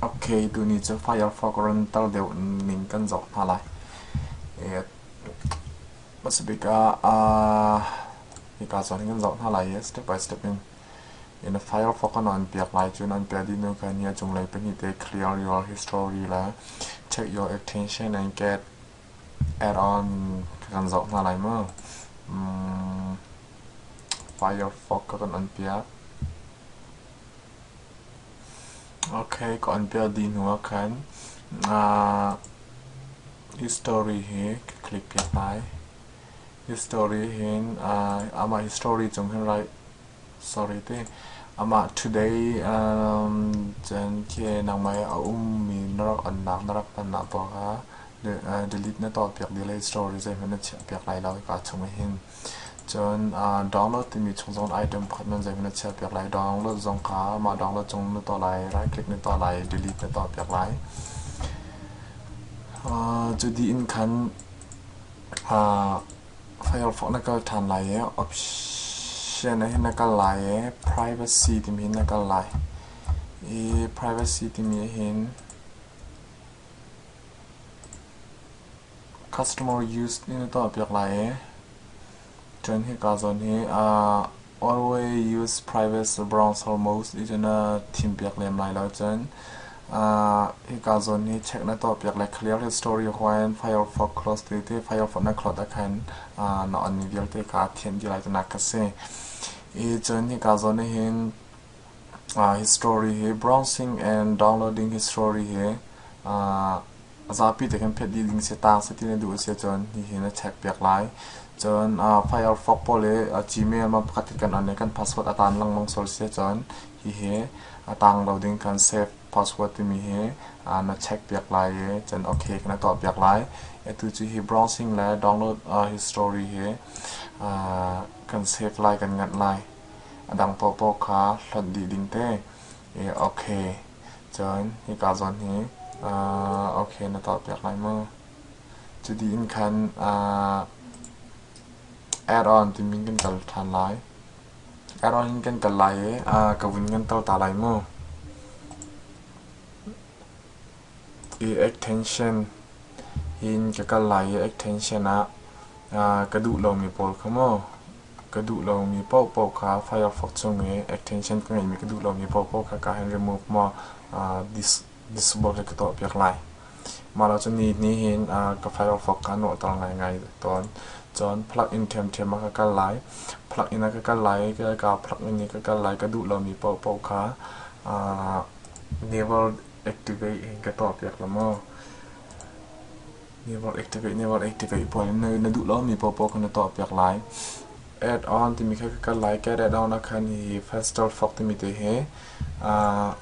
Ok, tuni cu Firefox runter deuh ning kan zoh hna lai. Hmasabik ah hika cun kan zoh hna lai i step by step in Firefox an on piak lai cun an piah dih hnu khan ni a cunglei pahnih te clear your history le check your extension and get add-on kan zoh hna lai maw? Firefox kan on piak. Okay, ka on piah dih hnuah khan history hi ka click piah lai. History hin amah history cung hin right sorry ti amah today cun khi nangmah i a ummi na rak onnak na rak tonnak poah kha delete na tuah piak dih lai history zeihmanh na chiah piak lai lo hika chung ah hin. Cun download timi chung zong item pakhat nan zeihmanh a chiahpiak lai. Download zong kha mah download cung na tuah lai, right click na tuah lai, delete na tuahpiak lai. Cu dih in khan Firefox na kal ṭhan lai i option ah hin na kal lai i privacy timi hin na kal lai. I privacy timi hin Customer use in na tuah piak lai i ṭuan hika zawn hi always use privacy bronze foremost ti cun thim piak lem lai lo cun hika zawn hi check na tuah piak le clear history huan Firefox close ti ti Firefox na cloud ah khan na on vialte kha thianh dih lai ti nak a si. I cun hika zawn ah hin history hi browsing and downloading history hi a zapi te khan phet dih ding si taang seti na duh a si cun hihin a check piak lai. Cun uh, Firefox pawl le uh, Gmail man pakhat kan on le kan password a taan lengmang sual si cun hihi a taang lo ding kan save password timi hi uh, na check piak lai i cun okay kana tuah piak lai. Atu cu hi browsing le download uh, history hi uh, kan save lai kan nganh lai. A dang popo kha hlonh dih ding te. Okay. Cun hika zawn hi ok na tuahpiak lai maw? Cuti in khan add-on timi kan kal ṭhan lai. Add-on in kan kal lai i ka vun kan tel ta lai maw? I extension in ka kal lai i extension ah ka duh lomi pawl kha maw? Ka duh lomi paohpaoh kha Firefox chung i attention ka ngeihmi ka duh lomi paohpaoh kha ka han remove maw uh, dis, disable ka tuahpiak lai. Mah lo cun ni hin uh, ka Firefox ka nuahter ngaingai tawn. Cun plugin ṭhiamṭhiam a ka kal lai. Plugin a ka kal lai i ka ka plugin i ka kal lai ka duh lomi paohpaoh kha uh, never activate in ka tuahpiak la maw? Network ek tekeih, network ek tekeih puan in na duh lo mi popo kan na tuah piak lai. Add on timi kha kan lai cat add on akhan hi faster fok timi te he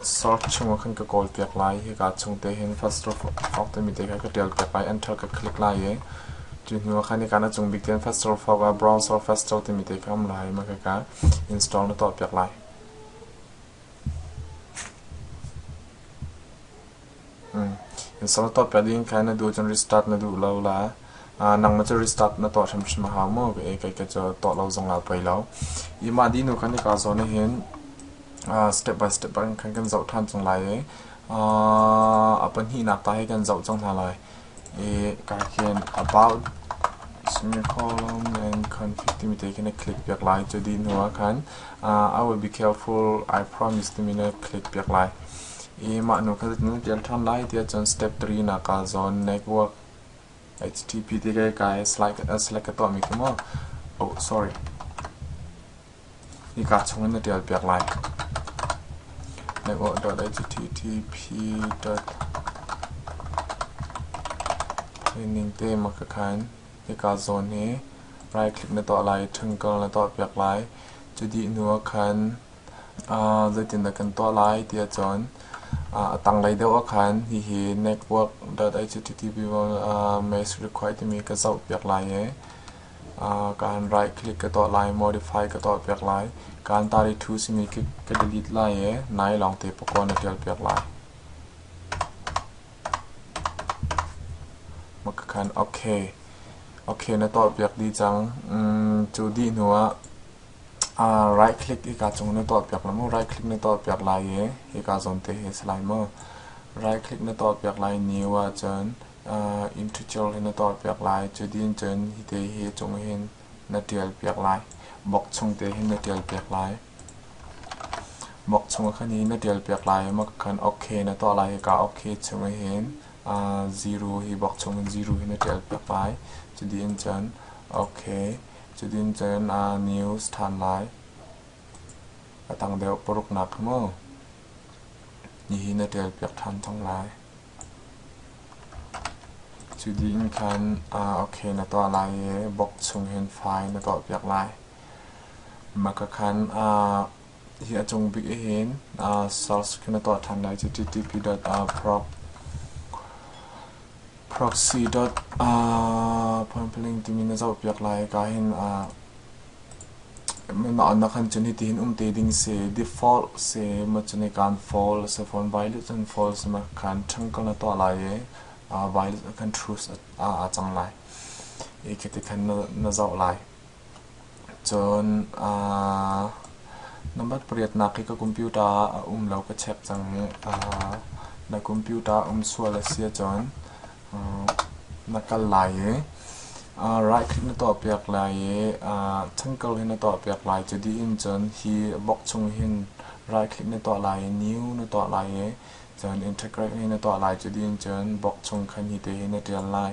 sort chung khan ka call piak lai hi ka chung te hin faster fok timi te kha ka tial piak lai enter ka click lai e tu hnu khan ni kana chung big ten faster fok a browse or faster timi te kha am lai ma ka ka install na tuah piak lai Salatawp ka ding kha na duh cun restart na duh lo la. Nangmah cu restart na tuah hrimhrim a hau maw ka ei kai ka cu tuah lo zong ah poi lo. Ima di nu kan i ka zawn hin step by step in khan kan zoh ṭhan chung lai i a pahnihnak ta hi kan zoh cang hna lai. I ka hin about semicolon and khan 50 mi te khin a click piak lai. Cu dih hnu ah khan I will be careful I promise to me na click piak lai. i mah nu kha na ṭial ṭhan lai tiah cun step tri naa kaal zawn network http tike kai slack ka tuahmi khi maw oh sorry hika chungin na ṭial piak lai network dot http dot ning te mak ka khan hika zawn hi right click na tuah lai ṭhangkar na tuah piak lai cu dih hnu ah khan zeitindah kan tuah lai ti ahcun a tanglei deuh ahkhan hihi network dot http mass required timi ka zohpiak lai i kaan right click ka tuah lai modify ka tuahpiak lai kaan tari two simi ka delete lai i nai lawng te pakaw na tialpiak lai maka khan ok ok na tuahpiak dih cang cu dih hnuah right click hika cung na tuahpiak lai maw? Right click na tuahpiak lai i hika zawn te hi a si lai maw? Right click na tuahpiak lai new ahcun integer hi na tuahpiak lai. Cutin cun hi te hi cung hin na ṭialpiak lai. Box chung te hin na ṭialpiak lai. Box chung khan hi na ṭialpiak lai i mak khan OK na tuah lai. Hika OK chung hin zero hi box chung in zero hi na ṭialpiak lai. Cutin cun OK Cutin cun aa news ṭhan lai. A tang deuh paruk nak mu nihin na ṭialpiak ṭhan cang lai. Cu ding khan ah ok na tuah lai i bok chung hin file na tuahpiak lai. Maka khan ah Hi a cung bik ahhin SARS khi na tuah ṭhan lai cu TTP.proxy. phuanphling timi na zohpiak lai. Ika hin na kan cun hitihin um te ding si. Default si, maw cun i kaan fawl si. Phone violet cun fawl si, maw kan ṭhangkal na tuah lai i violet kan truce a cang lai. Ika tikhan na zoh lai. Cun aa number pariatnak hi ka computer ah a um lo ka check cang i aa na computer um sual a si ahcun aa na kal lai i aa right click na tuahpiak lai i aa thankal hi na tuahpiak lai. Cu dih in cun hi box chung hin right click na tuah lai i new na tuah lai i cun integrate hi na tuah lai. Cu dih in cun box chung khan hi te hi na ṭial lai.